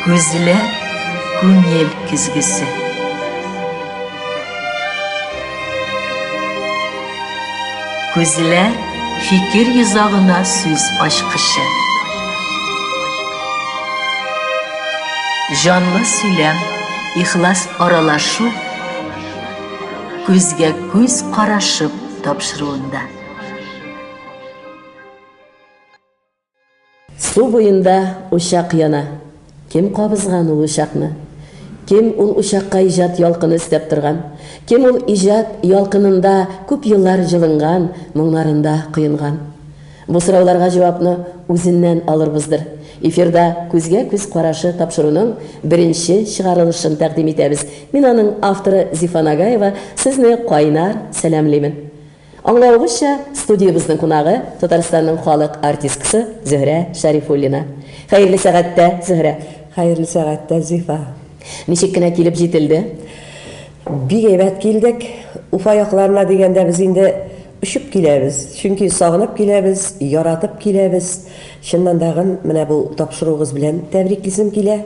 Күзләр күңел көзгесе. Күзләр фикер йозагына сүз ачкычы. Җанлы сөйләм, ихлас аралашу күзгә күз карашып тапшыруында. Су буенда учак яна. Кем кабызган ул учакны? Кем ул учакка иҗат ялкыны өстәп торган? Кем ул иҗат ялкынында күп еллар җылынган, моңнарында коенган? Бу сорауларга җавапны үзеннән алырбыздыр. Эфирда Күзгә-күз карашы тапшыруның беренче чыгарылышын тәкъдим итәбез. Мин аның авторы Зифа Нагаева сезне кайнар сәламлимен. Аңлавыгызча, студиябезнең кунагы, Татарстанның халык артисткасы Зөһрә Шәрифуллина. Хәерле сәгатьтә, Зөһрә! Хәерле сәгатьтә, Зифа! Ничек кенә килеп җителде? Бик әйбәт килдек. Уфа якларына дигәндә без инде очып киләбез, чөнки сагынып киләбез, яратып киләбез. Чыннан дагын менә бу тапшыруыгыз белән тәбриклисем килә.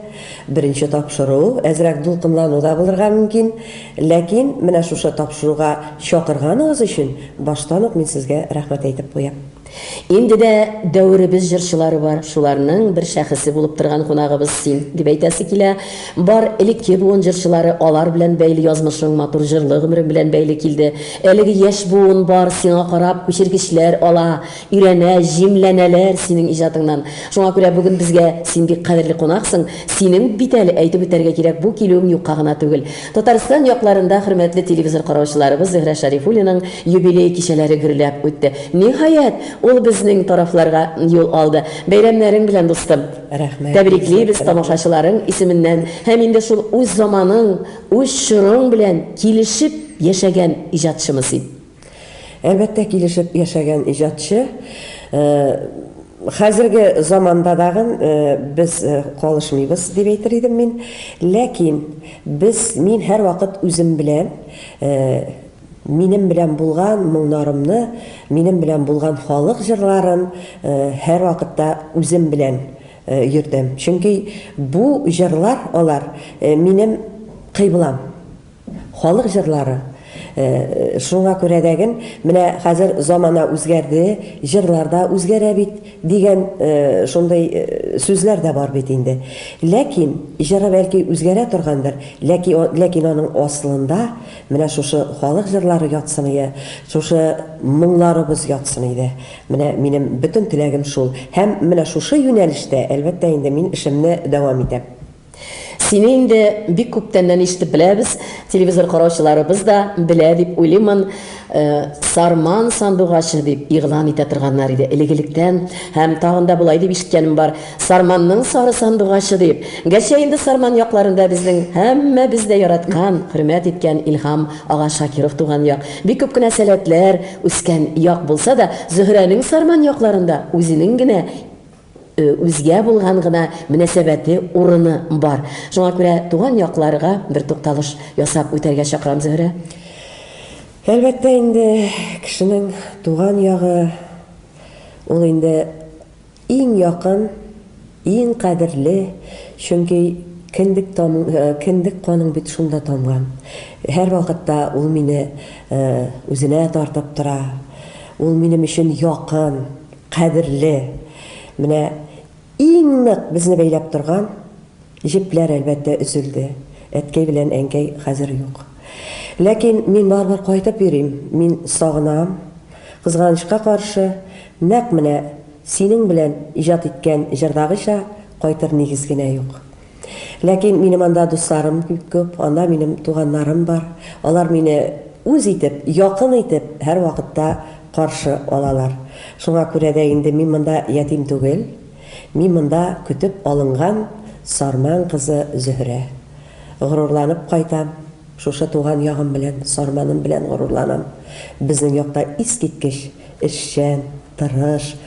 Беренче тапшыру, әзрәк дулкынлану да булырга мөмкин. Ләкин менә шушы тапшыруга чакырганыгыз өчен баштан ук мин сезгә рәхмәт әйтеп куям. Инде дә дәверебез җырчылары бар, шуларның бер шәхесе булып торган кунагыбыз син, дип әйтәсе килә. Бар элекке буын җырчылары, алар белән бәйле язмышың, матур җырлы гомерең белән бәйле килде. Әлеге яшь буын бар, сиңа карап, күчергечләр ала. Өйрәнә, җимләнәләр синең иҗатыңнан. Шуңа күрә бүген безгә син бик кадерле кунаксың. Синең, бит әле, әйтеп үтәргә кирәк, бу килүең юкка гына түгел. Татарстан якларында хөрмәтле телевизор караучыларыбыз Зөһрә Шәрифуллинаның юбилей кичәләре гөрләп үтте. Ниһаять, ул безнең тарафларга юл алды. Бәйрәмнәрең белән, дустым! Рәхмәт, Тәбриклибез Гөлзәфәр апа! тамашачыларың исеменнән һәм инде шул үз заманың, үз чорың белән килешеп яшәгән иҗатчымы син? Әлбәттә, килешеп яшәгән иҗатчы. Хәзерге заманда дагын без калышмыйбыз, дип әйтер идем мин. Ләкин без, мин һәрвакыт үзем белән, минем белән булган моңнарымны, минем белән булган халык җырларын һәрвакытта үзем белән йөртәм. Чөнки бу җырлар, алар минем кыйблам. Халык җырлары. Шуңа күрә дә ген, менә хәзер замана үзгәрде, җырлар да үзгәрә бит, дигән шундый сүзләр дә бар бит инде. Ләкин, җыры бәлки үзгәрә торгандыр, ләки ләкин аның асылында менә шушы халык җырлары ятсын ие, шушы моңнарыбыз ятсын иде. Менә минем бөтен теләгем шул. Һәм менә шушы юнәлештә, әлбәттә инде, мин эшемне дәвам итәм. Сине инде бик күптәннән ишетеп беләбез, телевизор караучыларыбыз да белә дип уйлыймын. Сарман сандугачы дип игълан итә торганнар иде элек-электән. Һәм тагын да болай дип ишеткәнем бар, Сарманның сары сандугачы дип. Гәрчә инде Сарман якларында безнең һәммәбез дә яраткан, хөрмәт иткән Илһам ага Шакиров туган як, бик күп кенә сәләтләр үскән як булса да, Зөһрәнең Сарман якларында үзенең генә Үзгә булган гына мөнәсәбәте, урыны бар. Шуңа күрә туган якларга бер тукталыш ясап үтәргә чакырам, Зөһрә. Әлбәттә инде, кешенең туган ягы, ул инде иң якын, иң кадерле, чөнки кендек тамың, кендек каның бит шунда тамган. Һәрвакытта ул мине үзенә тартып тора, ул минем өчен якын, Кадерле, менә иң нык безне бәйләп торган җепләр, әлбәттә, өзелде. Әткәй белән әнкәй хәзер юк. Ләкин мин барыбер кайтып йөрим, мин сагынам. Кызганычка каршы, нәкъ менә синең белән иҗат иткән җырдагыча кайтыр нигез генә юк. Ләкин минем анда дусларым бик күп, анда минем туганнарым бар. Алар мине үз итеп, якын итеп һәрвакытта каршы алалар. Шуңа күрә дә инде мин монда ятим түгел. Мин монда көтеп алынган Сарман кызы Зөһрә. Горурланып кайтам шушы туган ягым белән, Сарманым белән горурланам. Безнең якта искиткеч эшчән, тырыш,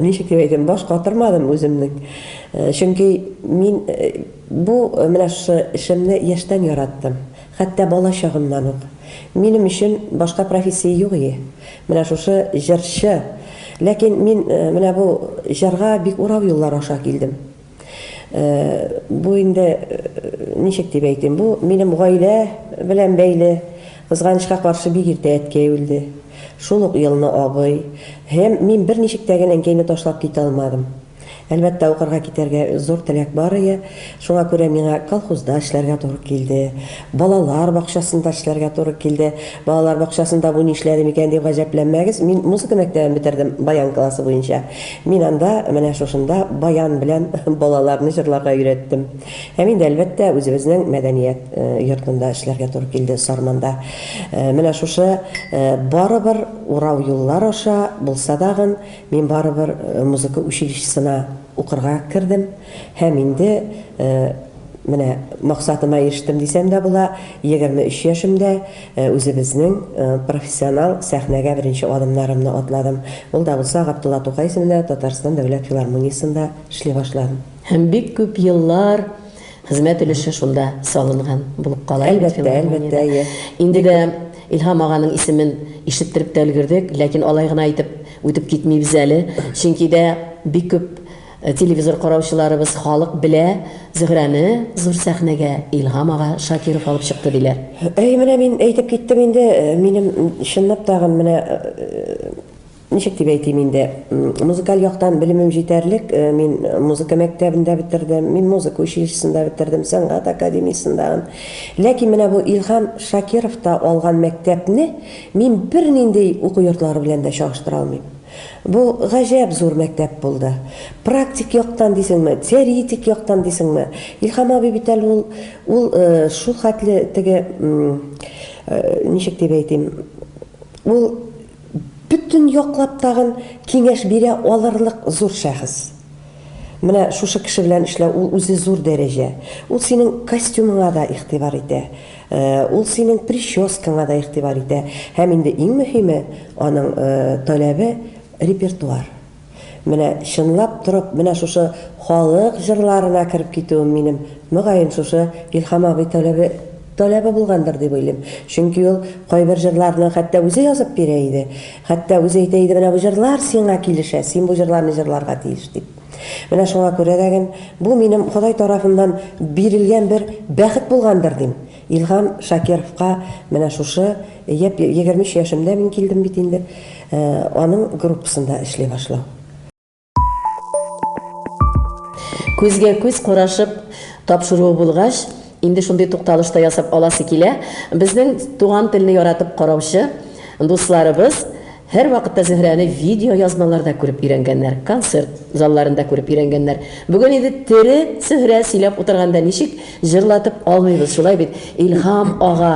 Ничек дип әйтим, баш катырмадым үземнең. Чөнки мин бу менә шушы эшемне яшьтән яраттым. Хәтта бала чагымнан ук. Минем өчен башка профессия юк иде. Менә шушы җырчы. Ләкин мин менә бу җырга бик урау юллар аша килдем. Бу инде ничек дип әйтим, бу минем гаилә белән бәйле. Кызганычка каршы, бик иртә әткәй үлде. Шул ук елны абый. Һәм мин берничек тә генә әнкәйне ташлап китә алмадым. Әлбәттә, укырга китәргә зур теләк бар ие. Шуңа күрә миңа колхозда эшләргә туры килде. Балалар бакчасында эшләргә туры килде. Балалар бакчасында бу нишләдем икән дип гаҗәпләнмәгез, мин музыка мәктәбен бетердем, баян классы буенча. Мин анда, менә шушында баян белән балаларны җырларга өйрәттем. Һәм инде, әлбәттә, үзебезнең мәдәният йортында эшләргә туры килде, Сарманда. Менә шушы барыбер урау юллар аша булса дагын, мин барыбер музыка училищесына. Укырга кердем һәм инде менә максатыма ирештем дисәм дә була, егерме өч яшемдә үзебезнең профессионал сәхнәгә беренче адымнарымны атладым. Ул да булса Габдулла Тукай исемендә Татарстан дәүләт филармониясендә эшли башладым. Һәм бик күп еллар Хезмәт өлеше шунда салынган булып кала. Әлбәттә, әлбәттә, әйе. Инде дә Илһам аганың исемен ишеттереп тә өлгердек, ләкин алай гына итеп үтеп китмибез әле. Чөнки дә бик күп э, телевизор караучыларыбыз, халык белә, Зөһрәне зур сәхнәгә Илһам ага Шакиров алып чыкты диләр. Әй, менә мин әйтеп киттем инде, э, минем чынлап тагын менә э, Ничек дип әйтим инде, музыкаль яктан белемем җитәрлек, мин музыка мәктәбен дә бетердем, мин музыка училищесын да бетердем, сәнгать академиясен дә. Ләкин менә бу Илһам Шакировта алган мәктәпне мин бернинди уку йортлары белән дә чагыштыра алмыйм. Бу гаҗәп зур мәктәп булды. Практик яктан дисеңме, теоретик яктан дисеңме, Илһам абый бит әле ул, ул шулхәтле теге, ничек дип әйтим, ул, Бөтен яклап тагын киңәш бирә алырлык зур шәхес. Менә шушы кеше белән эшләү, ул үзе зур дәрәҗә. Ул синең костюмыңа да игътибар итә, ул синең прическаңа да игътибар итә. Һәм инде иң мөһиме, аның таләбе, репертуар. Менә чынлап торып менә шушы халык җырларына кереп китүем минем, мөгаен, шушы Илһам абый таләбе таләбе булгандыр дип уйлыйм. Чөнки ул кайбер җырларны хәтта үзе язып бирә иде. Хәтта үзе әйтә иде, менә бу җырлар сиңа килешә, син бу җырларны җырларга тиеш дип. Менә шуңа күрә дә ген бу минем Ходай тарафыннан бирелгән бер бәхет булгандыр дим. Илһам Шакировка менә шушы япь егерме өч яшемдә мин килдем бит инде, аның группасында эшли башлау. Күзгә-күз карашып тапшыруы булгач, инде шундый тукталыш та ясап аласы килә. Безнең туган телне яратып караучы дусларыбыз, Һәрвакытта Зөһрәне видеоязмаларда күреп өйрәнгәннәр, концерт залларында күреп өйрәнгәннәр. Бүген инде тере Зөһрә сөйләп утырганда ничек җырлатып алмыйбыз, шулай бит, Илһам ага,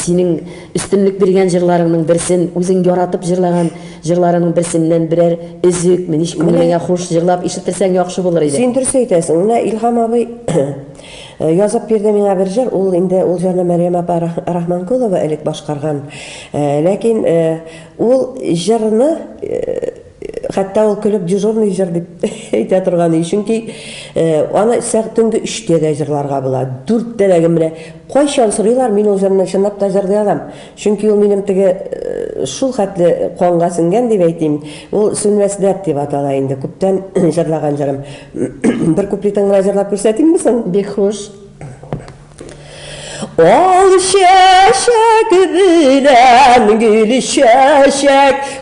синең өстенлек биргән җырларыңның берсен, үзең яратып җырлаган җырларыңның берсеннән берәр өзек, мениш күңелеңә хуш җырлап ишеттерсәң яхшы булыр иде. Син дөрес әйтәсең, менә Илһам абый, Язып бирде миңа бер җыр, ул инде ул җырны Мәрьям апа Рахманкулова элек башкарган. Ләкин ул җырны хәтта ул көлеп дежурный җыр дип әйтә торган иде, чөнки аны төнге өчтә дә җырларга була, дүрттә дә, менә кайчан сорыйлар, мин ул җырны чынлап та җырлый алам. Чөнки ул минем теге шул хәтле канга сеңгән дип әйтим, ул Сүнмәс дәрт дип атала инде, күптән җырлаган җырым. Бер куплетын гына җырлап күрсәтимме соң? Бик хуш. Ал чәчәк белән гөл чәчәк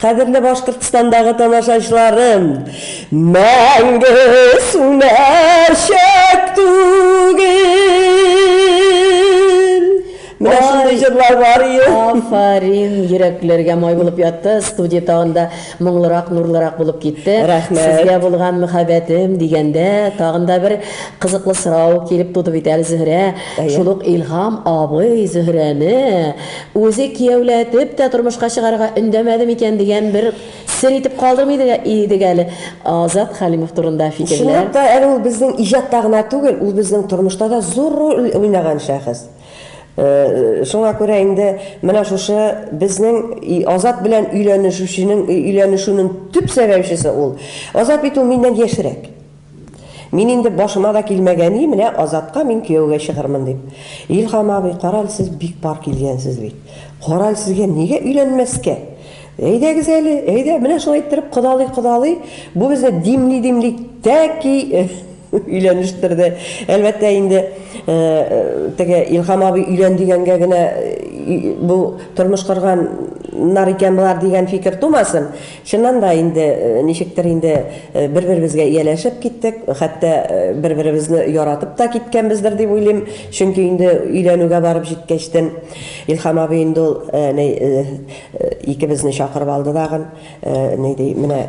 Кадерле Башкортстандагы тамашачыларым! Мәңге сүнәчәк түгел! Менә шундый җырлар бар иде. Афарин, йөрәкләргә май булып ятты, студия тагын да моңлырак, нурлырак булып китте. Рәхмәт. Сезгә булган мөхәббәтем дигәндә, тагын да бер кызыклы сорау килеп туды бит әле, Зөһрә. Әйе. Шул ук Илһам абый Зөһрәне Үзе кияүләтеп тә тормышка чыгарырга өндәмәде микән дигән бер сер итеп калдырмый идек әле. Азат Хәлимов турында фикерләр. Чынлап та, әле ул безнең иҗатта гына түгел, ул безнең тормышта да зур роль уйнаган шәхес. Шуңа күрә инде менә шушы безнең Азат белән өйләнешүченең, өйләнешүнең төп сәбәпчесе ул. Азат бит ул миннән яшьрәк. Мин инде башыма да килмәгән и, менә Азатка мин кияүгә чыгырмын дип. Илһам абый, карале сез бик пар килгәнсез бит. Карале сезгә нигә өйләнмәскә? Әйдәгез әле, әйдә, менә шулай иттереп кодалый-кодалый, бу безне димли-димли тәки өйләнештерде. Әлбәттә инде, теге Илһам абый өйлән дигәнгә генә бу тормыш корган нар икән болар дигән фикер тумасын. Чыннан да инде, ничектер инде бер-беребезгә ияләшеп киттек, хәтта бер-беребезне яратып та киткәнбездер дип уйлыйм, чөнки инде өйләнүгә барып җиткәчтен Илһам абый инде ул ни икебезне чакырып алды дагын, ни ди, менә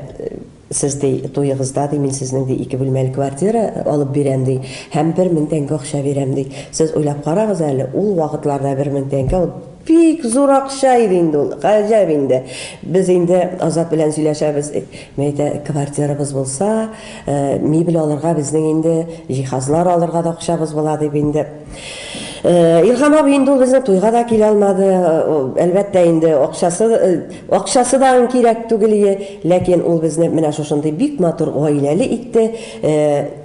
сез ди туегызда ди мин сезнең ди ике бүлмәле квартира алып бирәм ди һәм бер мең тәңкә акча бирәм ди, сез уйлап карагыз әле, ул вакытларда бер мең тәңкә ул, Бик зур акча иде инде ул. Гаҗәп инде. Без инде Азат белән сөйләшәбез. Мин әйтә, квартирабыз булса, мебель алырга безнең инде, җиһазлар алырга да акчабыз була, дип инде. Илһам абый инде ул безнең туйга да килә алмады. Әлбәттә инде, акчасы, акчасы да аның кирәк түгел ие. Ләкин ул безне менә шушындый бик матур гаиләле итте. Ә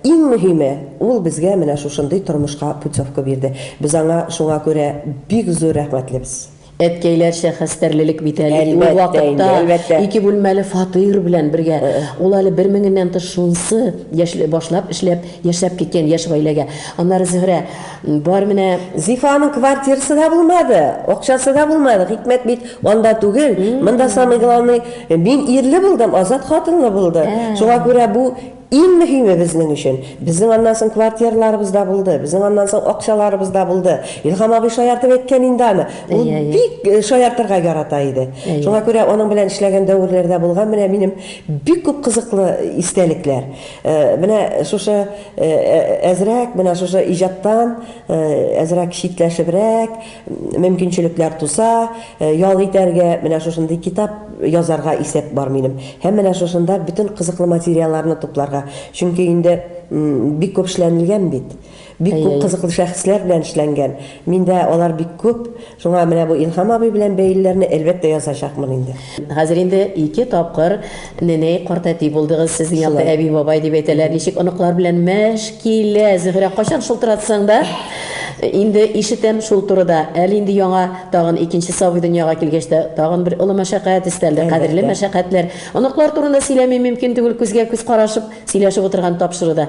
иң мөһиме, ул безгә менә шушындый тормышка путевка бирде. Без аңа шуңа күрә бик зур рәхмәтлебез. Әткәйләрчә хәстәрлелек бит әле ул Әлбәттә вакытта. инде, әлбәттә. Ике бүлмәле фатир белән бергә. Ул әле бер меңеннән тыш шунысы яшьли башлап эшләп, яшәп киткән яшь гаиләгә. Аннары Зөһрә. Бар менә Зифаның квартирасы да булмады, акчасы да булмады. Хикмәт бит анда түгел. Монда самый главный, мин ирле булдым, Азат хатынлы булды. Шуңа күрә бу иң мөһиме безнең өчен. Безнең аннан соң квартираларыбыз да булды, безнең аннан соң акчаларыбыз да булды. Илһам абый шаяртып әйткән инде аны. Ул бик э, шаяртырга ярата иде. Шуңа күрә аның белән эшләгән дәверләрдә булган менә минем бик күп кызыклы истәлекләр. Э, менә шушы Әзрәк менә шушы иҗаттан әзрәк читләшебрәк мөмкинчелекләр туса, ял итәргә, менә шушындый китап язарга исәп бар минем. Һәм менә шушында бөтен кызыклы материалларны тупларга. Чөнки инде бик күп эшләнелгән бит. Бик күп кызыклы шәхесләр белән эшләнгән. Миндә алар бик күп. Шуңа менә бу Илһам абый белән бәйлеләрне әлбәттә язачакмын инде. Хәзер инде ике тапкыр неней, картәти булдыгыз, сезнең якта әби-бабай дип әйтәләр. Ничек оныклар белән мәш килә, Зөһрә? Кайчан шылтыратсаң да, инде ишетәм шул турыда. Әле инде яңа тагын икенче сабый дөньяга килгәч тә, тагын бер олы мәшәкать өстәлде, кадерле мәшәкатьләр. Оныклар турында сөйләми мөмкин түгел, күзгә-күз карашып сөйләшеп утырган тапшыруда.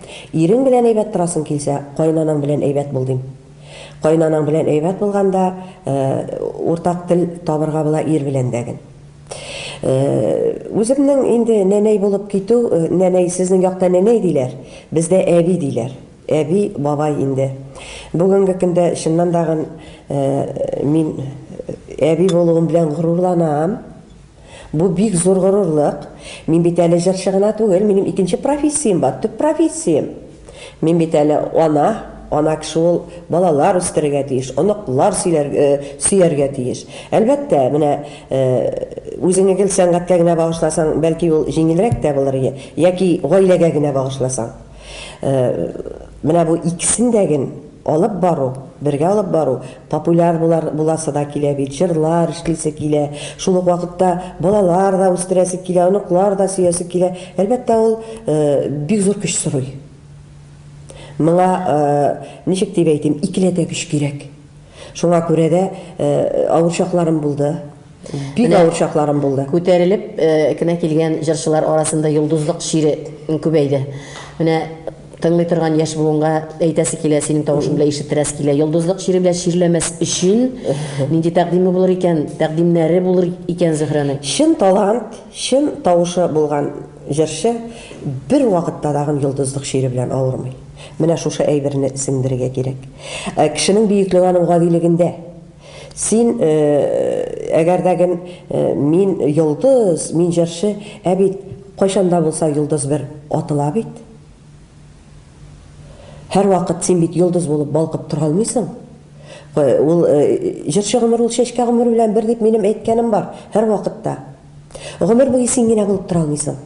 Ирең белән әйбәт торасың килсә, кайнанаң белән әйбәт бул, дим. Кайнанаң белән әйбәт булганда, уртак тел табырга була ир белән дә ген. Үземнең инде нәнәй булып китү, нәнәй, сезнең якта нәнәй диләр, бездә әби диләр. Әби, бабай инде. Бүгенге көндә, чыннан да ген, мин әби булуым белән горурланам. Бу бик зур горурлык. Мин бит әле җырчы гына түгел, минем икенче профессиям бар, төп профессиям. Мин бит әле ана, ана кеше ул балалар үстерергә тиеш, оныклар сөяргә тиеш. Әлбәттә, менә үзеңне гел сәнгатькә генә багышласаң, бәлки ул җиңелрәк тә булыр иде, яки гаиләгә генә багышласаң. Менә бу икесен дә ген алып бару, бергә алып бару, популяр булар, буласы да килә бит, җырлар эшлисе килә, шул ук вакытта балалар да үстерәсе килә, оныклар да сөясе килә. Әлбәттә, ул бик зур көч сорый. Моңа, ничек дип әйтим, икеләтә көч кирәк. Шуңа күрә дә авыр чакларым булды. Бик авыр чакларым булды. Күтәрелеп кенә килгән җырчылар арасында йолдызлык чире күбәйде. Менә тыңлый торган яшь буынга әйтәсе килә, синең тавышың белән ишеттерәсе килә. Йолдызлык чире белән чирләмәс өчен нинди тәкъдиме булыр икән, тәкъдимнәре булыр икән Зөһрәнең? Чын талант, чын тавышы булган җырчы бервакытта тагын йолдызлык чире белән авырмый. Менә шушы әйберне сеңдерергә кирәк. Ә кешенең бөеклеге аның гадилегендә. Син, әгәр дә ген мин йолдыз, мин җырчы, ә бит кайчан да булса йолдыз бер атыла бит. Һәрвакыт син бит йолдыз булып балкып тора алмыйсың. Ул җырчы гомер ул чәчкә гомер белән бер дип минем әйткәнем бар, һәрвакытта. Гомер буе син генә булып тора алмыйсың.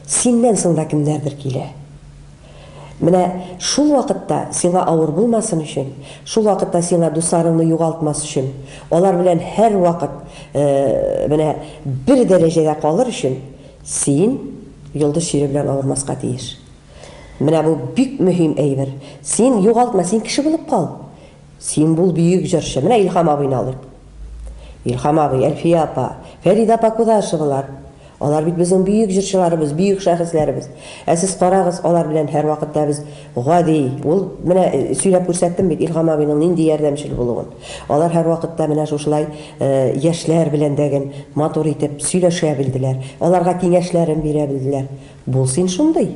Синнән соң да кемнәрдер килә. Менә шул вакытта сиңа авыр булмасын өчен, шул вакытта сиңа дусларыңны югалтмас өчен, алар белән һәрвакыт менә бер дәрәҗәдә калыр өчен син йолдыз чире белән авырмаска тиеш. Менә бу бик мөһим әйбер. Син югалтма, син кеше булып кал. Син бул бөек җырчы. Менә Илһам абыйны алыйк. Илһам абый, Әлфия апа, Фәридә апа Кудашевалар. Алар бит безнең бөек җырчыларыбыз, бөек шәхесләребез. Ә сез карагыз, алар белән һәрвакыт та без гади. Ул, менә сөйләп күрсәттем бит Илһам абыйның нинди ярдәмчел булуын. Алар һәрвакыт та менә шушылай яшьләр белән дә гел матур итеп сөйләшә белделәр. Аларга киңәшләрен бирә белделәр. Бул син шундый.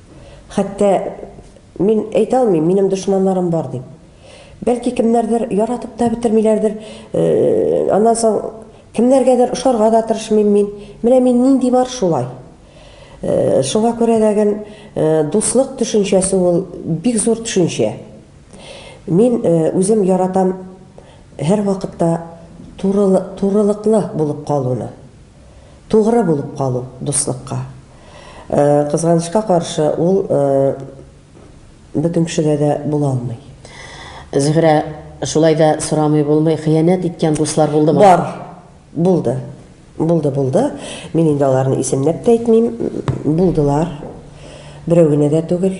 Хәтта мин әйтә алмыйм, минем дошманнарым бар дип. Бәлки кемнәрдер яратып та бетермиләрдер. Э, аннан соң кемнәргәдер ошарга да тырышмыйм мин. Менә мин нинди бар шулай. Э, шуңа күрә дәген э, дуслык төшенчәсе ул бик зур төшенчә. Мин үзем яратам һәр вакытта турылыклы булып калуны. Тугры булып калу, дуслыкка. Кызганычка каршы, ул бөтен кешегә дә була алмый. Зөһрә, шулай да сорамый булмый, хыянәт иткән дуслар булдымы? Бар, булды. Булды, булды. Мин инде аларны исемләп тә әйтмим. Булдылар. Берәү генә дә түгел.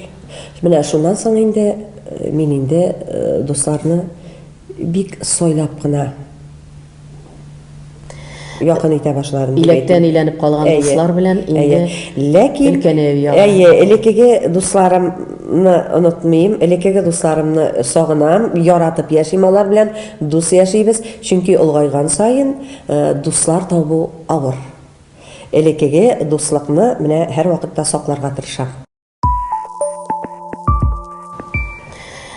Менә шуннан соң инде мин инде дусларны бик сайлап кына якын итә башларын. Иләктән иләнеп калган дуслар белән инде ләкин өлкәнәю ягы. Әйе, элеккеге дусларымны онытмыйм, элеккеге дусларымны сагынам, яратып яшим алар белән, дус яшибез, чөнки олгайган саен дуслар табу авыр. Элеккеге дуслыкны менә һәрвакытта сакларга тырышам.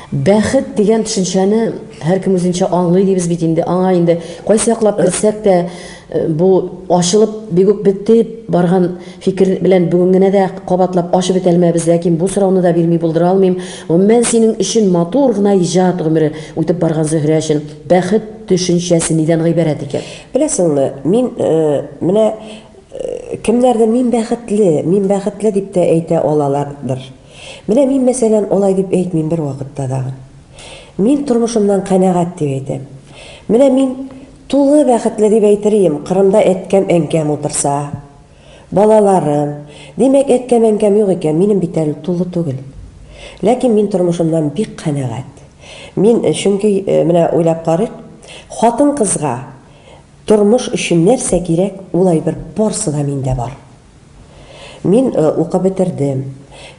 Бәхет дигән төшенчәне һәркем үзенчә аңлый дибез бит инде. Аңа инде кайсы яклап керсәк тә э, бу ачылып бик үк бетеп барган фикер белән бүген генә дә кабатлап ачып бетә алмабыз, ләкин бу сорауны да бирми булдыра алмыйм. Гомумән синең өчен матур гына иҗат гомере үтеп барган Зөһрә өчен бәхет төшенчәсе нидән гыйбарәт икән? Беләсеңме, мин э, менә Кемнәрдер мин бәхетле, мин бәхетле дип тә әйтә алалардыр. Менә мин, мәсәлән, алай дип әйтмим бервакытта да. Мин тормышымнан канәгать дип әйтәм. Менә мин тулы бәхетле дип әйтер ием, Кырымда әткәм-әнкәм утырса, балаларым. Димәк, әткәм-әнкәм юк икән, минем бит әле тулы түгел. Ләкин мин тормышымнан бик канәгать. Мин, чөнки, менә уйлап карыйк, хатын-кызга, Тормыш өчен нәрсә кирәк, ул әйбер барсы да миндә бар. Мин укып бетердем,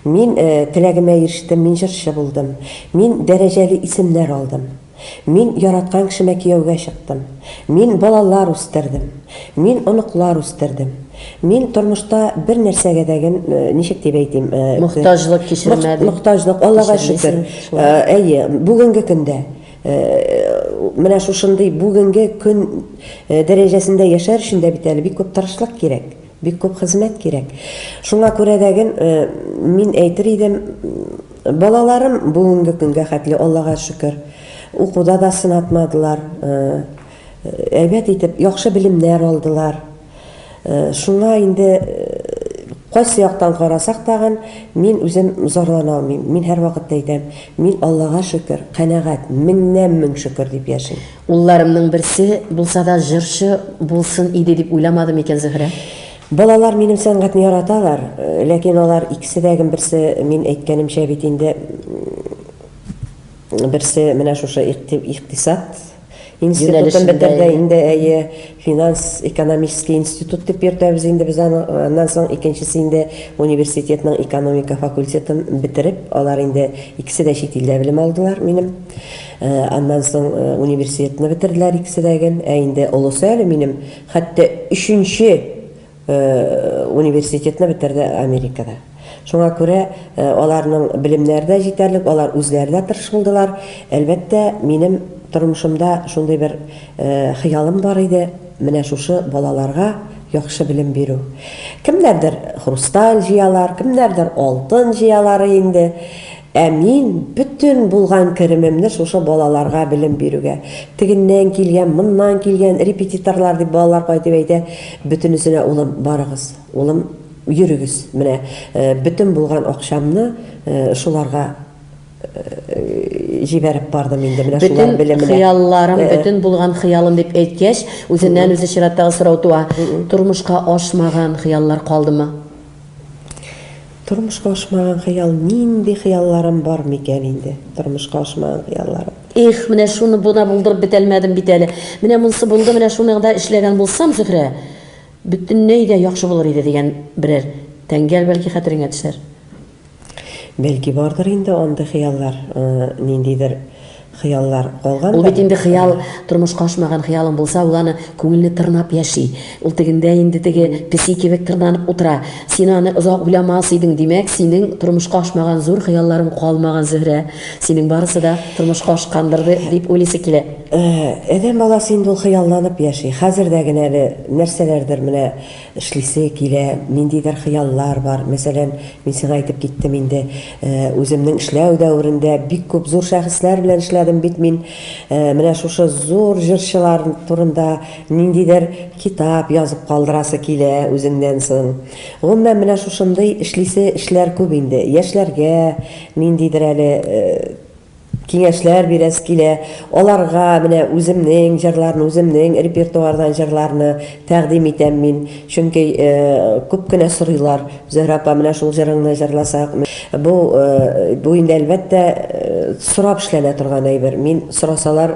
мин теләгемә ирештем, мин җырчы булдым, мин дәрәҗәле исемнәр алдым, мин яраткан кешемә кияүгә чыктым, мин балалар үстердем, мин оныклар үстердем, мин тормышта бер нәрсәгә дә гем, ничек дип әйтим, Мохтаҗлык кичермәдем, мохтаҗлык, Аллага шөкер, әйе, бүгенге көндә. Менә шушындый бүгенге көн дәрәҗәсендә яшәр өчен дә бит әле бик күп тырышлык кирәк, бик күп хезмәт кирәк. Шуңа күрә дә ген мин әйтер идем, балаларым бүгенге көнгә хәтле, Аллага шөкер, укуда да сынатмадылар, әйбәт итеп яхшы белемнәр алдылар. Шуңа инде кайсы яктан карасак тагын, мин үзем зарлана алмыйм. Мин һәрвакыт та әйтәм, мин Аллага шөкер, канәгать, меңнән мең шөкер дип яшим. Улларымның берсе булса да җырчы булсын иде дип уйламады микән Зөһрә? Балалар минем сәнгатьне яраталар, ләкин алар икесе дә гем берсе, мин әйткәнемчә бит инде, берсе менә шушы икътисад, Институтын бетергә инде, әйе, финанс-экономический институт дип йөртәбез инде без аны. Аннан соң икенчесе инде университетның экономика факультетын бетереп, алар инде икесе дә чит илдә белем алдылар минем. Аннан соң университетны бетерделәр икесе дә гел. Ә инде олысы әле минем хәтта өченче Университетны бетәрде Америкада. Шуңа күрә аларның белемнәре дә җитәрлек, алар үзләре дә тырыш булдылар. Әлбәттә, минем тормышымда шундый бер хыялым бар иде, менә шушы балаларга яхшы белем бирү. Кемнәрдер хрусталь җыялар, кемнәрдер алтын җыялары инде. Ә мин бөтен булган керемемне шушы балаларга белем бирүгә, тегеннән килгән, моннан килгән, репетиторлар дип балалар кайтып әйтә, бөтенесенә, улым, барыгыз, улым, йөрегез, менә бөтен булган акчамны шуларга җибәреп бардым инде, менә шулар белеменә. Бөтен хыялларым, бөтен булган хыялым дип әйткәч, үзеннән-үзе чираттагы сорау туа, тормышка ашмаган хыяллар калдымы? Тормышка ашмаган хыял, нинди хыялларым бар микән инде? Тормышка ашмаган хыялларым. Их, менә шуны буна булдырып бетәлмәдем бит әле. Менә монсы булды, менә шуны да эшләгән булсам, Зөһрә, бөтенләй дә яхшы булыр иде, дигән берәр тәңгәл бәлки хәтереңә төшәр. Бәлки бардыр инде андый хыяллар, ниндидер хыяллар калгандыр. Ул бит инде хыял, тормышка ашмаган хыялың булса, ул аны күңелне тырнап яши. Ул тегендә инде теге песи кебек тырнанып утыра. Син аны озак уйламас идең, димәк, синең тормышка ашмаган зур хыялларың калмаган, Зөһрә. Синең барысы да тормышка ашкандыр дип уйлыйсы килә. Адәм баласы инде ул хыялланып яши. Хәзер дә генә әле нәрсәләрдер менә Эшлисе килә, ниндидер хыяллар бар. Мәсәлән, мин сиңа әйтеп киттем инде, үземнең эшләү дәверендә бик күп зур шәхесләр белән эшләдем бит мин. Менә шушы зур җырчылар турында ниндидер китап язып калдырасы килә үзеңнән соң. Гомумән, менә шушындый эшлисе эшләр күп инде. Яшьләргә ниндидер әле Киңәшләр бирәсе килә, аларга менә үземнең җырларны, үземнең репертуардан җырларны тәкъдим итәм мин. Чөнки күп кенә сорыйлар, Зөһрә апа, менә шул җырыңны җырласак. Бу, бу инде, әлбәттә, сорап эшләнә торган әйбер. Мин сорасалар,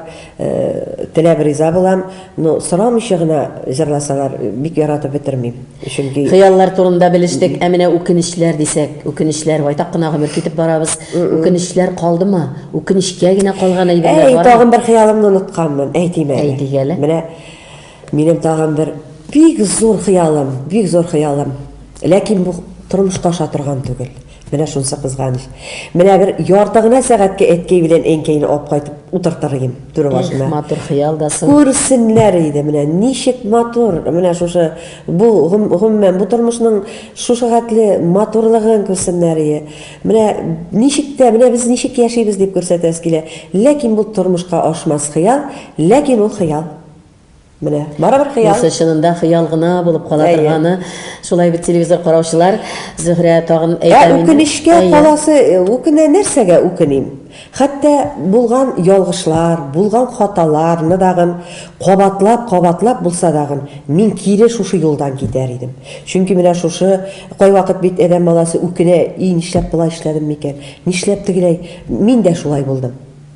Теләп риза булам, но сорамыйча гына җырласалар, бик яратып бетермим. Чөнки Хыяллар турында белештек, ә менә үкенечләр дисәк, үкенечләр, байтак кына гомер китеп барабыз. Үкенечләр калдымы? Үкенечкә генә калган әйберләр бармы? Әй, тагын бер хыялымны унытканмын, әйтим әле. Әйдик әле. Менә минем тагын бер бик зур хыялым, бик зур хыялым. Ләкин бу тормышка аша торган түгел. Менә шунсы кызганыч. Менә бер ярты гына сәгатькә әткәй белән әнкәйне алып кайтып утыртыр идем түрә башына. Их, матур хыял да сон. Күрсеннәр иде, менә ничек матур, менә шушы бу гомумән бу тормышның шушы хәтле матурлыгын күрсеннәр ие. Менә ничек тә, менә без ничек яшибез дип күрсәтәсе килә. Ләкин бу тормышка ашмас хыял, ләкин ул хыял. Менә, барыбер хыял. Нәрсә чынында хыял гына булып кала Әйе. торганы. Шулай бит телевизор караучылар, Зөһрә тагын Ә әйтә мине. үкенечкә Әйе. каласы, э, үкенә нәрсәгә үкеним? Хәтта булган ялгышлар, булган хаталарны дагын кабатлап, кабатлап булса дагын, мин кире шушы юлдан китәр идем. Чөнки менә шушы, кайвакыт бит адәм баласы үкенә, и, нишләп болай эшләдем микән, нишләп тегеләй, мин дә шулай булдым.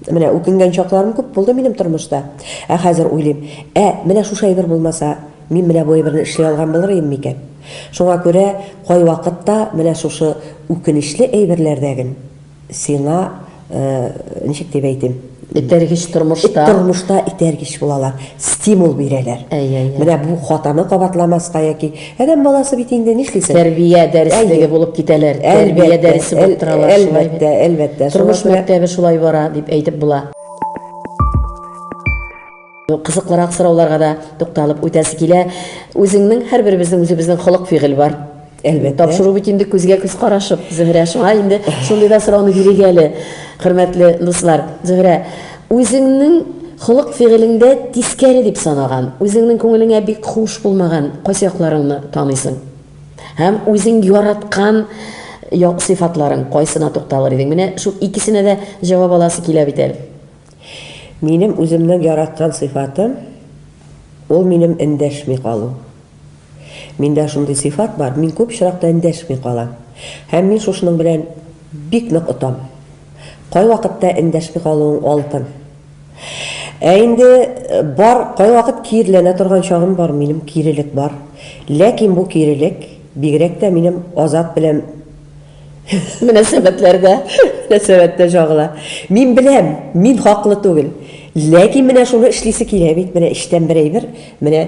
Менә үкенгән чакларым күп булды минем тормышта. Ә хәзер уйлыйм, ә, менә шушы әйбер булмаса, мин менә бу әйберне эшли алган булыр идем микән? Шуңа күрә кайвакытта менә шушы үкенечле әйберләрдәген сиңа, ничек дип әйтим? Этәргеч тормышта. Тормышта этәргеч булалар, стимул бирәләр. Әйе, әйе. Менә бу хатаны кабатламаска яки Адәм баласы бит инде, нишлисең? Тәрбия дәреслеге булып китәләр, тәрбия дәресе булып торалар, шулай бит? Әлбәттә, әлбәттә. Тормыш мәктәбе шулай бара, дип әйтеп була. Кызыклырак сорауларга да тукталып үтәсе килә. Үзеңнең, һәрберебезнең үзебезнең холык-фигыль бар. Әлбәттә. Тапшыру бит инде күзгә күз карашып, Зөһрә. Шуңа инде шундый да сорауны бирик әле, хөрмәтле дуслар. Зөһрә, Үзеңнең холык-фигылеңдә тискәре дип санаган, үзеңнең күңелеңә бик хуш булмаган кайсы якларыңны таныйсың? Һәм үзең яраткан як сыйфатларың кайсына тукталыр идең? Менә шул икесенә дә җавап аласы килә бит әле. Минем үземнең яраткан сыйфатым, ул минем эндәшми калу. Миндә шундый сыйфат бар, мин күп очракта эндәшми калам. Һәм мин шушының белән бик нык отам. Кайвакытта эндәшми калуың алтын. Ә инде бар, кайвакыт киреләнә торган чагым бар, минем кирелек бар. Ләкин бу кирелек бигрәк тә минем Азат белән Мөнәсәбәтләрдә, мөнәсәбәттә җагыла. Мин беләм, мин хаклы түгел. Ләкин менә шуны эшлисе килә бит, менә эчтән бер әйбер, менә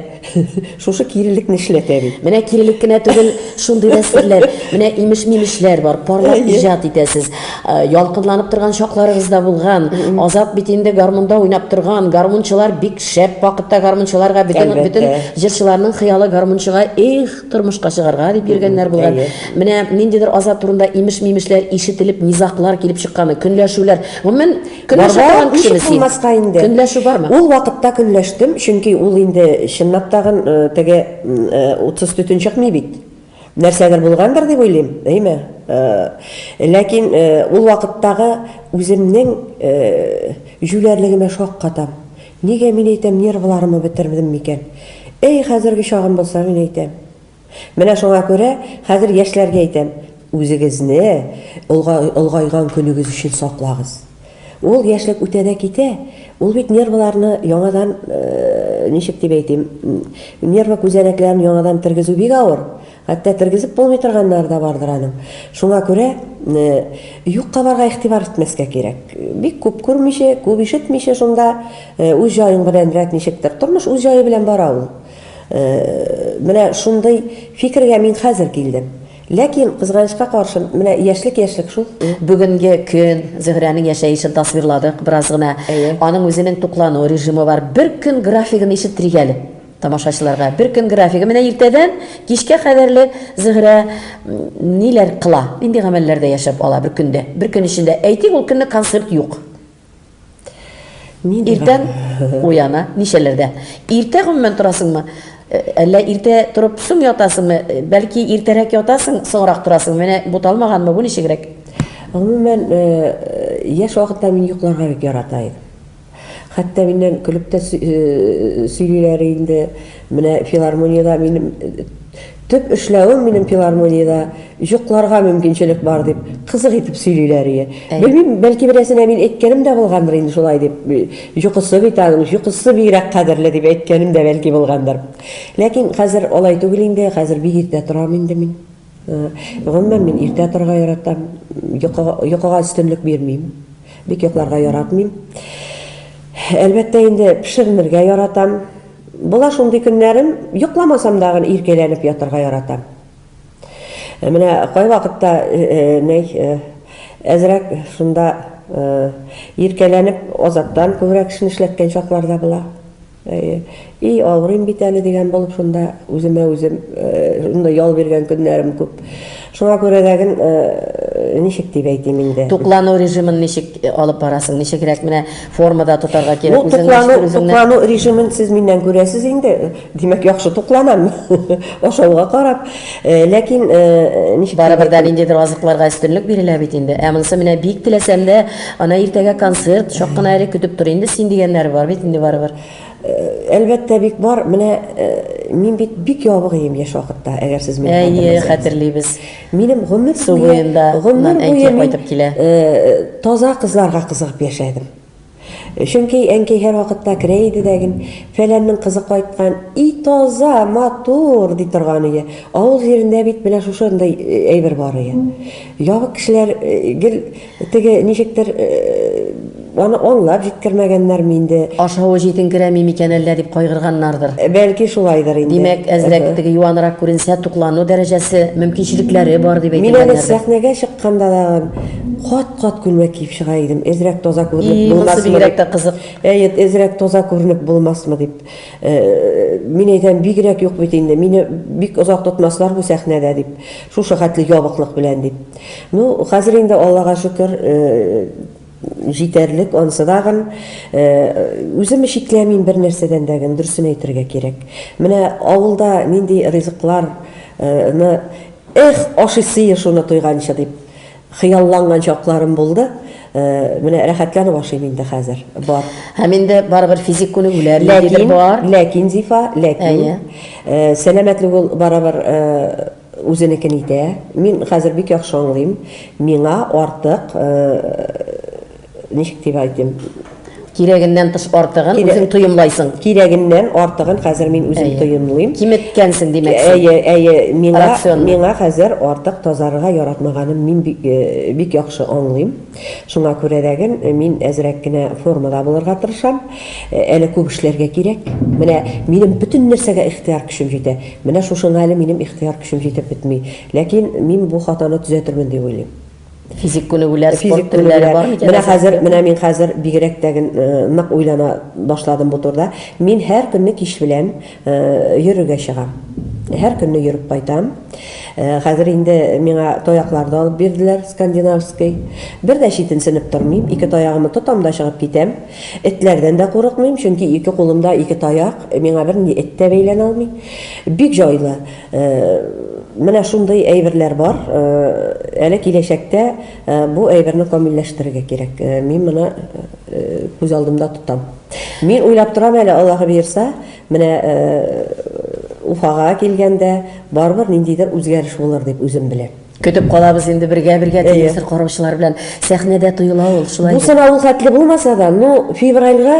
шушы кирелекне эшләтә бит. Менә кирелек кенә түгел, шундый да серләр, менә имеш-мимешләр бар, парлап Әйе. иҗат итәсез. Э, Ялкынланып торган чакларыгыз да булган. Азат бит инде гармунда уйнап торган. Гармунчылар бик шәп вакытта гармунчыларга бөтен Әлбәттә. бөтен җырчыларның хыялы гармунчыга. Эх, Тормышка чыгарга дип йөргәннәр булган. Менә ниндидер азат турында имеш-мимешләр ишетелеп, низаклар килеп чыкканы, көнләшүләр. Гомумән, көнләшә торган кешеме син? булмаска инде. Көнләшү бармы? Ул вакытта көнләштем, чөнки ул инде чынлап тагын теге утсыз төтен чыкмый бит. Нәрсәдер булгандыр дип уйлыйм, әйме? Ләкин ул вакыттагы үземнең җүләрлегемә шаккатам. Нигә мин әйтәм нервларымы бетердем микән? Әй хәзерге чагым булса мин әйтәм. Менә шуңа күрә хәзер яшьләргә әйтәм, үзегезне олга олгайган көнегез өчен саклагыз. Ул яшьлек үтә дә китә, ул бит нервларны яңадан, ничек дип әйтим, нерва күзәнәкләрен яңадан тергезү бик авыр. Хәтта тергезеп булмый торганнары да бардыр аның. Шуңа күрә юк кабарга игътибар итмәскә кирәк. Бик күп күрмичә, күп ишетмичә шунда үз җаең белән рәт ничектер. Тормыш үз җае белән бара ул. Менә шундый фикергә мин хәзер килдем. Ләкин, кызганычка каршы, менә яшьлек яшьлек шул. Бүгенге көн, Зөһрәнең яшәешен тасвирладык бераз гына. Әйе. Аның үзенең туклану режимы бар. Бер көн графигын ишеттерик әле. Тамашачыларга бер көн графигы менә иртәдән кичкә кадәрле Зөһрә ниләр кыла, нинди гамәлләрдә яшәп ала бер көндә, бер көн эчендә. Әйтик, ул көнне концерт юк. Нинди Иртән гамәл? уяна, ничәләрдә? Иртә гомумән торасыңмы? Әллә иртә торып соң ятасыңмы? Бәлки иртәрәк ятасың, соңрак торасың? Менә буталмаганмы бу, ничегрәк? Гомумән, яшь вакытта мин йокларга бик ярата идем. Хәтта миннән көлеп тә сөйлиләр инде. Менә филармониядә минем төп эшләвем минем филармониядә йокларга мөмкинчелек бар дип кызык итеп сөйлиләр ие. Белмим, бәлки берәрсенә мин әйткәнем дә булгандыр инде шулай дип. Йокысы бит аның, йокысы бигрәк кадерле дип әйткәнем дә бәлки булгандыр. Ләкин хәзер алай түгел инде, хәзер бик иртә торам инде мин. Гомумән, мин иртә торырга яратам. Йокыга, йокыга өстенлек бирмим. Бик йокларга яратмыйм. Әлбәттә инде, пешеренергә яратам. Була шундый көннәрем, йокламасам дагын иркәләнеп ятырга яратам. Менә кайвакытта, нәй, әзрәк шунда иркәләнеп, Азаттан күбрәк эшне эшләткән чаклар да була. Әйе. И, авырыйм бит әле дигән булып шунда үземә үзем шунда ял биргән көннәрем күп. Шуңа күрә дә гел ничек дип әйтим инде. Туклану режимын ничек алып барасың? Ничегрәк менә формада тотарга кирәк? Бу туклану, туклану режимын сез миннән күрәсез инде. Димәк, яхшы тукланам. Ашауга карап. Ләкин ничек Барыбер дә ниндидер азыкларга өстенлек бирелә бит инде. Ә монысы менә бик теләсәм дә, ана иртәгә концерт, чак кына әле көтеп тор инде син дигәннәре бар бит инде барыбер. Әлбәттә бик бар. Менә мин бит бик ябык ием яшь вакытта, әгәр сез мине хәтерләсәгез. Әйе, хәтерлибез. Минем гомер буе, гомер буе мин таза кызларга кызыгып яшәдем. Чөнки әнкәй һәрвакытта керә иде дә гел, Фәләннең кызы кайткан, и таза, матур! ди торган иде. Авыл җирендә бит менә шушындый әйбер бар иде. Ябык кешеләр гел теге, ничектер, аны аңлап җиткермәгәннәрме инде. Ашавы җитенкерәми микән әллә дип кайгырганнардыр. Бәлки шулайдыр инде. Димәк, әзрәк теге юанрак күренсә, туклану дәрәҗәсе, мөмкинчелекләре бар дип әйтелгәннәрдер. Мин әле сәхнәгә чыкканда тагын, кат. Кат күлмәк киеп чыга идем, әзрәк таза күренеп булмасмы дип. И, монысы бигрәк тә кызык. Әйе, әзрәк таза күренеп булмасмы дип. Мин әйтәм, бигрәк юк бит инде, мине бик озак тотмаслар бу сәхнәдә дип, шушы хәтле ябыклык белән дип. Ну, хәзер инде, Аллага шөкер, җитәрлек, анысы да гын. Үземне чикләмим бернәрсәдән дә гын, дөресен әйтергә кирәк. Менә авылда нинди ризыкларны, эх, ашыйсые шуны тойганчы дип. Хыялланган чакларым булды. Менә рәхәтләнеп ашыйм инде хәзер. Бар. Һәм инде барыбер физик күнегүләр ниндидер бар. Ләкин, Зифа, ләкин. Әйе. Сәламәтлек ул барыбер үзенекен итә. Мин хәзер бик яхшы аңлыйм. Миңа артык ничек дип әйтим, Кирәгеннән тыш артыгын Кирәк- үзең тоемлайсың. кирәгеннән артыгын хәзер мин үзем Әйе. тоемлыйм. Киметкәнсең, димәк. син. Әйе, әйе, миңа, Рационны. миңа хәзер артык тазарырга яратмаганым мин бик, э, бик яхшы аңлыйм. Шуңа күрә дәген э, мин әзрәк кенә формада булырга тырышам. Э, Әле күп эшләргә кирәк. Менә минем бөтен нәрсәгә ихтыяр көчем җитә. Менә шушыңа әле минем ихтыяр көчем җитеп бетми. Ләкин мин бу хатаны төзәтермен дип уйлыйм. Физик күнегүләр, спорт төрләре бар микән? Менә хәзер, менә мин хәзер бигрәк тә нык уйлана башладым бу турда. Мин һәр көнне кич белән йөрергә чыгам. Һәр көнне йөреп кайтам. Хәзер инде миңа таяклар да алып бирделәр, скандинавский. Бер дә читенсенеп тормыйм, ике таягымны тотам да чыгып китәм. Этләрдән дә курыкмыйм, чөнки ике кулымда ике таяк, миңа бернинди эт тә бәйләнә алмый. Бик җайлы. Менә шундый әйберләр бар. Әле киләчәктә бу әйберне камилләштерергә кирәк. Мин моны күз алдымда тотам. Мин уйлап торам әле, Аллаһы боерса, менә Уфага килгәндә, барыбер ниндидер үзгәреш булыр дип үзем беләм. Көтеп калабыз инде бергә-бергә телевизор караучылар белән. Сәхнәдә тоела ул, шулай бит? Бу сынау ул хәтле булмаса да, ну, февральгә,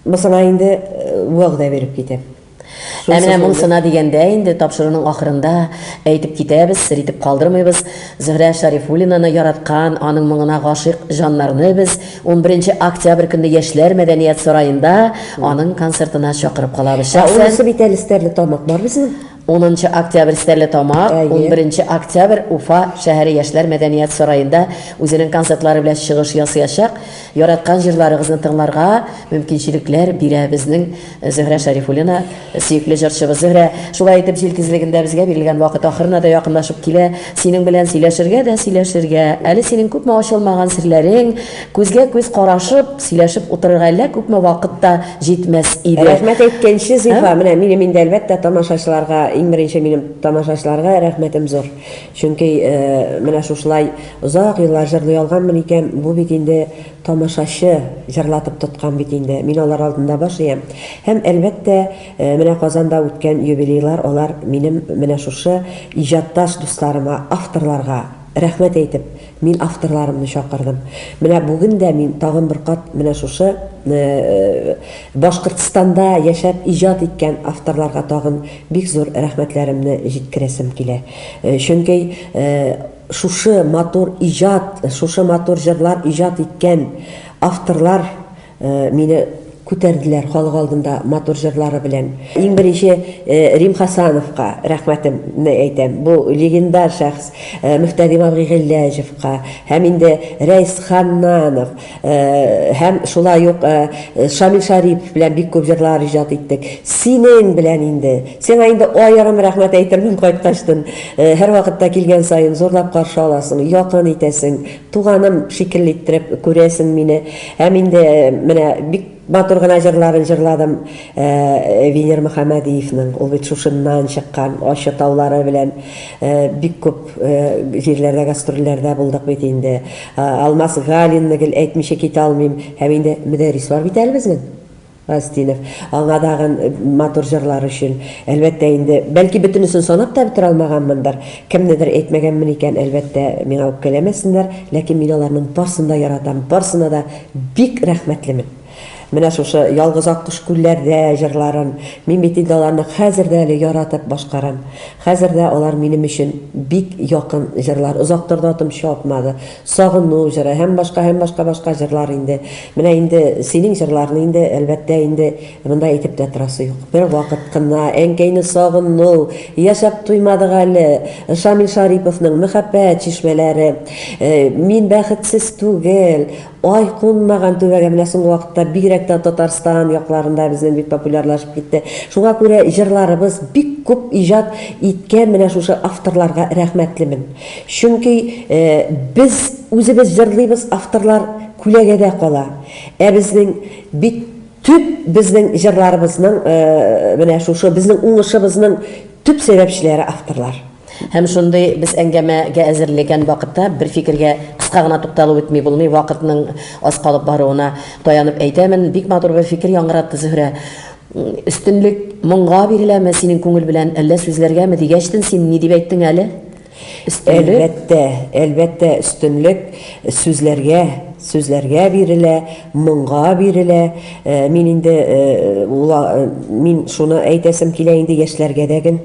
Мусына инде вәгъдә биреп китеп. Ә менә Мусына дигәндә инде тапшыруның ахырында әйтеп китәбез, сер итеп калдырмыйбыз, Зөһрә Шарифуллинаны яраткан, аның моңына гашыйк җаннарны без унберенче октябрь көнне Яшьләр мәдәният сараенда аның концертына чакырып калабыз. Ә анысы бит әле Стәрлетамак бар безнең. Унынчы октябрь Стәрлетамак, унберенче октябрь Уфа шәһәре Яшьләр мәдәният сараенда үзенең концертлары белән чыгыш ясыячак. Яраткан җырларыгызны тыңларга мөмкинчелекләр бирә безнең Зөһрә Шәрифуллина, сөекле җырчыбыз. Зөһрә, шулай итеп җил тизлегендә безгә бирелгән вакыт ахырына да якынлашып килә. Синең белән сөйләшергә дә сөйләшергә. Әле синең күпме ачылмаган серләрең, Күзгә-күз карашып, сөйләшеп утырырга әллә күпме вакыт та җитмәс иде. Рәхмәт әйткәнче, Зифа, менә минем инде, әлбәттә, тамашачыларга, иң беренче минем тамашачыларга рәхмәтем зур. Чөнки менә шушылай озак еллар җырлый алганмын икән, бу бит инде тамашачы җырлатып тоткан бит инде. Мин алар алдында баш иям. Һәм, әлбәттә, менә Казанда үткән юбилейлар, алар минем менә шушы иҗатташ дусларыма, авторларга рәхмәт әйтеп, Мин авторларымны чакырдым. Менә бүген дә мин тагын бер кат менә шушы Башкортстанда яшәп иҗат иткән авторларга тагын бик зур рәхмәтләремне җиткерәсем килә. Чөнки шушы матур иҗат, шушы матур җырлар иҗат иткән авторлар Мине күтәрделәр халык алдында матур җырлары белән. Иң беренче Рим Хасановка рәхмәтемне әйтәм. Бу легендар шәхес Мөхтәрим абый Гыйләҗевка һәм инде Рәис Ханнанов һәм шулай ук Шамил Шарипов белән бик күп җырлар иҗат иттек. Синең белән инде. Сиңа инде аерым рәхмәт әйтермен кайткачтын. Һәрвакытта килгән саен зурлап каршы аласың, якын итәсең. Туганым шикелле иттереп күрәсең мине. Һәм инде менә бик матур гына җырларын җырладым Венер Мөхәммәдиевның. Ул бит шушыннан чыккан, Ачы таулары белән бик күп җирләрдә гастрольләрдә булдык бит инде. Алмаз Галинны гел әйтмичә китә алмыйм. Һәм инде Мөдәррис бар бит әле безнең. Газтинов. Аңа тагын матур җырлар өчен, әлбәттә инде. Бәлки бөтенесен санап та бетерә алмаганмындыр. Кемнедер әйтмәгәнмен икән, әлбәттә, миңа үпкәләмәсеннәр, ләкин мин аларның барсын да яратам, барсына да бик рәхмәтлемен. Менә шушы Ялгыз аккош күлләрдә җырларын, мин бит инде аларны хәзер дә әле яратып башкарам. Хәзер дә алар минем өчен бик якын җырлар. Озак торды атым чапмады. Сагыну җыры һәм башка, һәм башка, башка җырлар инде. Менә инде синең җырларны инде, әлбәттә, инде монда әйтеп тә торасы юк. Бервакыт кына әнкәйне сагыну, Яшәп туймадык әле, Шамил Шариповның Мәхәббәт чишмәләре, Мин бәхетсез түгел, Ай кунмаган түбәгә, менә соңгы вакытта бигрәк тә Татарстан якларында безнең бик популярлашып китте. Шуңа күрә җырларыбыз бик күп иҗат иткән менә шушы авторларга рәхмәтлемен. Чөнки без үзебез җырлыйбыз, авторлар күләгәдә кала. Ә безнең бит төп безнең җырларыбызның менә шушы безнең уңышыбызның төп сәбәпчеләре авторлар. Һәм шундый без әңгәмә гә әзерлегән вакытта бер фикергә кыска гына тукталып үтми булмый, вакытның аз калып баруына таянып әйтәмен, бик матур бер фикер яңгыратты Зөһрә. Өстенлек моңга биреләме синең күңел белән, әллә сүзләргәме, дигәчтен син ни дип әйттең әле? Өстенлек. Әлбәттә, әлбәттә, өстенлек сүзләргә, сүзләргә бирелә, моңга бирелә. Мин инде мин шуны әйтәсем килә инде яшьләргә дә гел,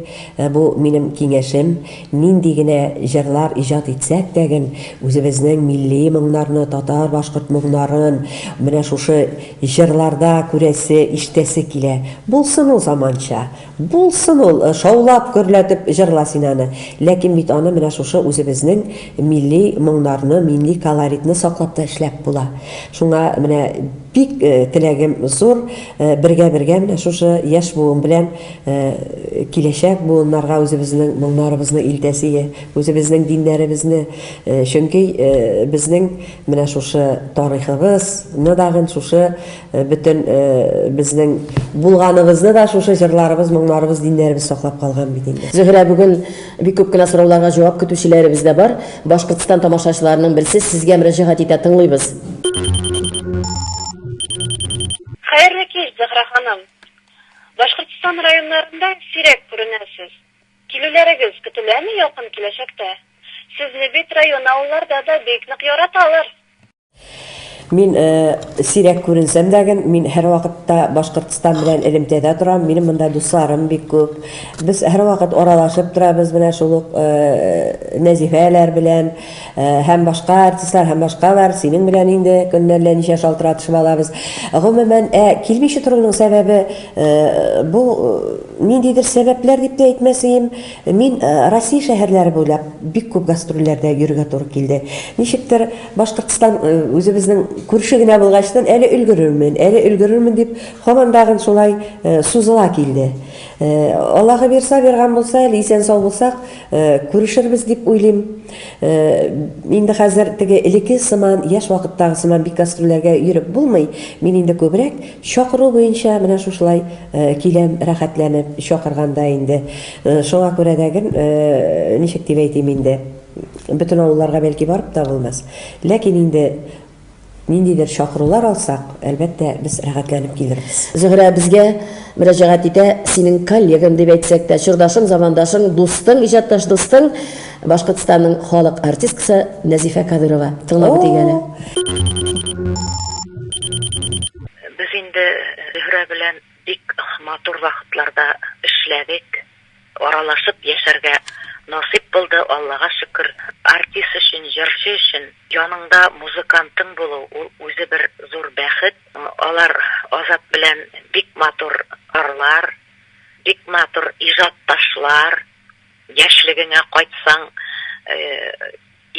бу минем киңәшем. Нинди генә җырлар иҗат итсәк тә гел, үзебезнең милли моңнарны, татар-башкорт моңнарын менә шушы җырларда күрәсе, ишетәсе килә. Булсын ул заманча, булсын ул, шаулап, гөрләтеп җырла син аны, ләкин бит аны менә шушы үзебезнең милли моңнарны, милли колоритны саклап та эшләп була. Шуңа менә бик теләгем зур, бергә-бергә менә шушы яшь буын белән Киләчәк буыннарга үзебезнең моңнарыбызны илтәсее, үзебезнең диннәребезне, чөнки безнең менә шушы тарихыбыз ны дагын шушы бөтен безнең булганыбызны да шушы җырларыбыз, моңнарыбыз, диннәребез саклап калган бит инде. Зөһрә, бүген бик күп кенә сорауларга җавап көтүчеләребез дә бар. Башкортстан тамашачыларының берсе сезгә мөрәҗәгать итә, тыңлыйбыз. Хәерле кич, Зөһрә ханым! Башкортстан районнарында сирәк күренәсез. Килүләрегез көтеләме якын киләчәктә? Сезне бит район авылларда да бик нык яраталар. Мин сирәк күренсәм дә гэн, мин һәрвакытта Башкортстан белән элемтәдә торам, минем монда дусларым бик күп. Без һәрвакыт аралашып торабыз менә шул ук Нәзифәләр белән. Һәм башка артистлар һәм башкалар, синең белән инде көннәр лә ничә шалтыратышып алабыз. Гомумән, ә килмичә торуның сәбәбе, бу ниндидер сәбәпләр дип тә әйтмәсеем, мин Россия шәһәрләре буйлап бик күп гастрольләрдә йөрергә туры килде. Ничектер, Башкортстан үзебезнең күрше генә булгачтын, әле өлгерермен, әле өлгерермен дип, һаман тагын шулай сузыла килде. Аллаһы бирса, бирган булса, әле исән-сау булсак, күрешербез дип уйлыйм. Инде хәзер теге элеке сыман, яшь вакыттагы сыман бик гастрольләргә йөреп булмый. Мин инде күбрәк чакыру буенча менә шушылай киләм, рәхәтләнеп чакырганда инде. Шуңа күрә дә гел, ничек дип әйтим инде, бөтен авылларга бәлки барып та булмас, ләкин инде, Ниндидер чакырулар алсак, әлбәттә, без рәхәтләнеп килербез. Зөһрә безгә мөрәҗәгать итә, Синең коллегаң дип әйтсәк тә, чордашың, замандашың, дустың, иҗатташ дустың, Башкортстанның халык артисткасы Нәзифә Кадыйрова. Тыңлап үтик әле. Без инде Зөһрә белән бик матур вакытларда эшләдек. Аралашып яшәргә насыйп булды, Аллага шөкер. Артист өчен, җырчы өчен яныңда музыкантың булу, ул үзе бер зур бәхет. Алар Азат белән бик матур ырлар, бик матур иҗатташлар. Яшьлегеңә кайтсаң,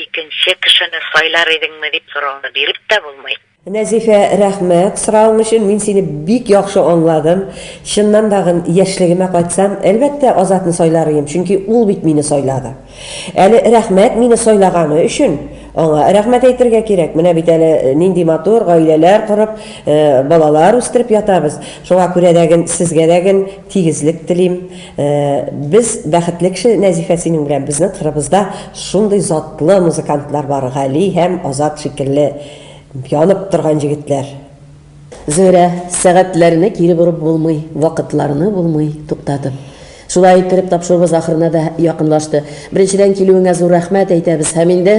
икенче кешене сайлар идеңме дип сорауны биреп тә булмый. Нәзифә, рәхмәт соравың өчен, мин сине бик яхшы аңладым. Чыннан тагын яшьлегемә кайтсам, әлбәттә, Азатны сайлар идем, чөнки ул бит мине сайлады. Әле рәхмәт мине сайлаганы өчен аңа рәхмәт әйтергә кирәк. Менә бит әле нинди матур гаиләләр корып, балалар үстереп ятабыз. Шуңа күрә дә ген сезгә дә ген тигезлек телим. Без бәхетле кеше, Нәзифә, синең белән. Безнең кырыбызда шундый затлы музыкантлар бар, Гали һәм Азат шикелле. Янып торган җегетләр. Зөһрә, сәгатьләрне кире борып булмый, вакытларны булмый туктатып. Шулай иттереп тапшыруыбыз ахырына да якынлашты. Беренчедән килүеңә зур рәхмәт әйтәбез һәм инде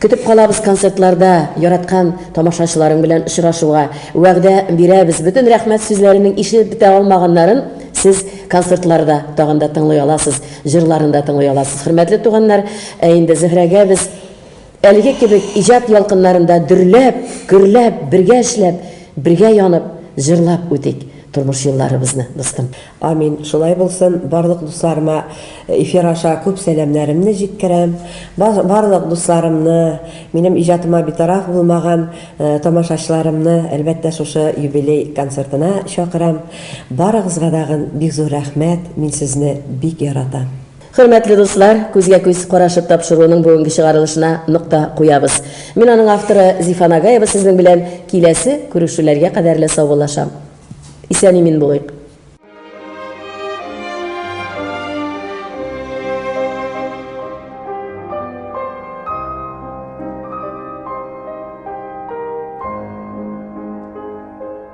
көтеп калабыз концертларда яраткан тамашачыларың белән очрашуга. Вәгъдә бирәбез, бөтен рәхмәт сүзләренең ишетеп бетә алмаганнарын сез концертларда тагын да тыңлый аласыз, җырларын да тыңлый аласыз. Хөрмәтле туганнар, ә инде Зөһрәгә без Әлеге кебек иҗат ялкыннарында дөрләп, гөрләп, бергә эшләп, бергә янып, җырлап үтик тормыш юлларыбызны, дустым! Амин, шулай булсын! Барлык дусларыма эфир аша күп сәламнәремне җиткерәм. Барлык дусларымны, минем иҗатыма битараф булмаган тамашачыларымны, әлбәттә, шушы юбилей концертына чакырам. Барыгызга дагын бик зур рәхмәт, мин сезне бик яратам! Хөрмәтле дуслар, күзгә-күз карашып тапшыруының бүгенге чыгарылышына нокта куябыз. Мин аның авторы Зифа Нагаева сезнең белән киләсе күрешүләргә кадәрле саубуллашам. Исән-имин булыйк!